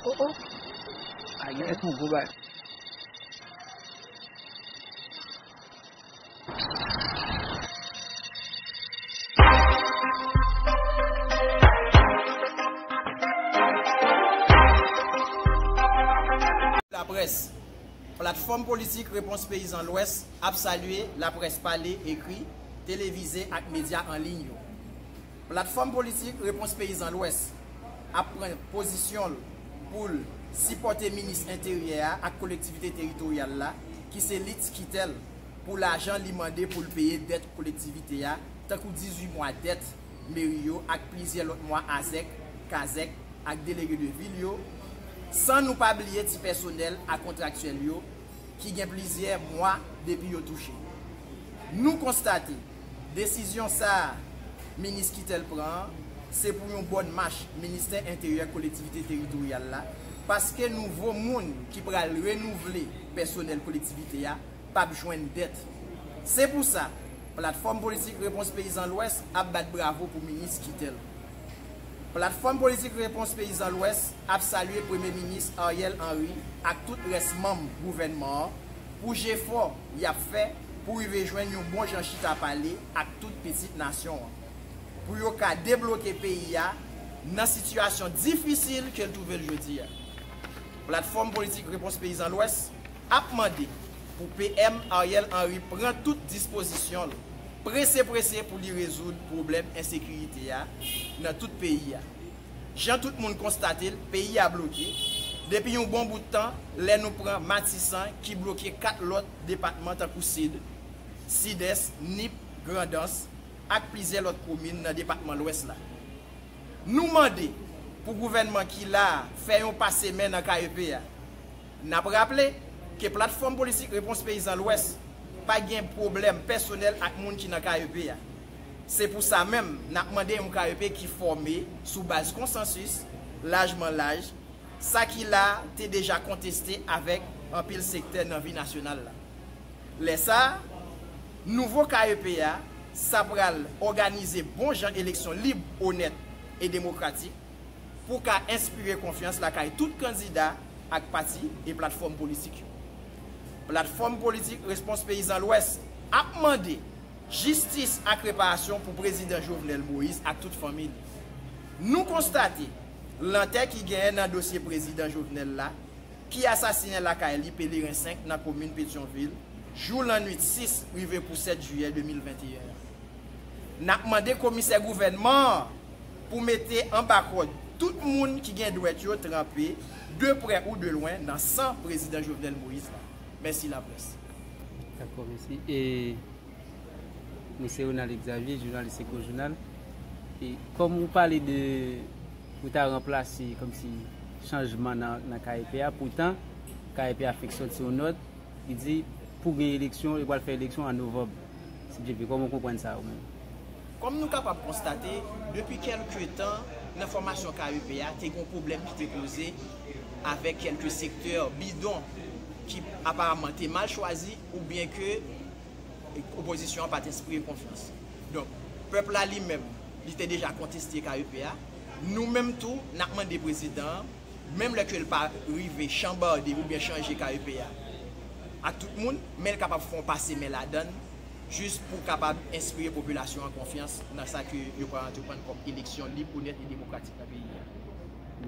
Oh oh Ayi Ayi son gwo bagay Laprès, Platfòm politik Repons Peyizan Lwès ap salye laprès pale, ekri, televize ak medya an liy yo. Platfòm politik Repons Peyizan Lwès ap pran pozisyon l pou l sipòte minis enteryè a ak kolektivite teritoryal la ki se li tikitè l pou lajan li mande pou l peye dèt kolektivite a tankou 18 mwa dèt meri yo ak plizyè lòt mwa azèk, kazèk ak delege de vil yo san nou pa bliye ti pèsonèl ak kontraktyèl yo ki gen plizyè mwa depi yo touche. Nou konstate. Desizyon sa a Minis Kittell pran an, se pou yon bòn mach Ministè Enteryè Kolektivite Teritoryal la, paske nouvo moun ki pral renouvle pèsonèl kolektivite a p ap jwenn dèt. Se pou sa, Platfòm Politik Repons Peyizan Lwès ap bat bravo pou Minis Kittell. Platfòm Politik Repons Peyizan Lwès ap salye Premye Minis Ariel Henry ak tout rès manm gouvènman an pou jefò y ap fè pou rive jwenn yon bon jan chita pale ak tout pitit nasyon an, pou yo ka debloke peyi a nan sitiyasyon difisil ke l twouve l jodi a. Platfòm Politik Repons Peyizan Lwès ap mande pou PM Ariel Henry pran tout dispozisyon l prese prese pou li rezoud pwoblèm ensekirite a nan tout peyi a. Jan tout moun konstate l, peyi a bloke depi yon bon bout tan lè nou pran Matisan ki bloke 4 lòt depatman tankou Sid, Sidès, Nip, Grandans ak plizyè lòt komin nan depatman Lwès la. Nou mande pou gouvènman ki la a fè yon pase men nan ka EP a. N ap raple ke Platfòm Politik Repons Peyizan Lwès pa gen pwoblèm pèsonèl ak moun ki nan ka EP a. Se pou sa menm n ap mande yon ka EP ki fòme sou baz konsansis, lajman laj, Sa ki la a te deja konteste avèk anpil sektè nan vi nasyonal la. Lè sa a, nouvo KEP a, sa pral òganize bon jan eleksyon lib, onèt e demokratik pou ka enspire konfyans lakay tout kandida ak pati e platfòm politik yo. Platfòm politik Respons Peyizan Lwès ap mande jistis ak reparasyon pou Prezidan Jovenel Moïse ak tout fanmi li. Nou konstate. Lantè ki genyen nan dosye prezidan Jovenel la, ki asasinen lakay li Pelerin 5 nan komin Petyonvil, jou lannuit 6 rive pou 7 jiyè 2021 an. N ap mande komisè gouvènman an pou mete anba kòd tout moun ki gen dwèt yo tranpe, de prè ou de lwen, nan san prezidan Jovenel Moïse la. Mèsi laprès. Mwen se Ronald Exavier, jounalis Echo Jounal. E kòm ou pale de ou ta ranplase kòm si chanjman nan KEP a, poutan KEP a fèk sòti yon nòt ki di pou gen eleksyon, yo pral fè eleksyon an Novòb. Si Byen Vle, kòman ou konprann sa ou menm? Kòm nou kapab konstate, depi kèlke tan nan fòmasyon KEP a, te gen yon pwoblèm ki te poze avèk kèlke sektè bidon ki aparamman te mal chwazi oubyen ke Opozisyon an pa t enspire konfyans. Donk, pèp la li menm, li te deja konteste KEP a. Nou menm tou, n ap mande prezidan an, menm lè ke l pa rive chanbarde oubyen chanje KEP a ak tout moun, men l kapab fè yon pase men ladan l jis pou kapab enspire popilasyon an konfyans nan sa ke yo pral antreprann kòm eleksyon lib, onèt e demokratik nan peyi a.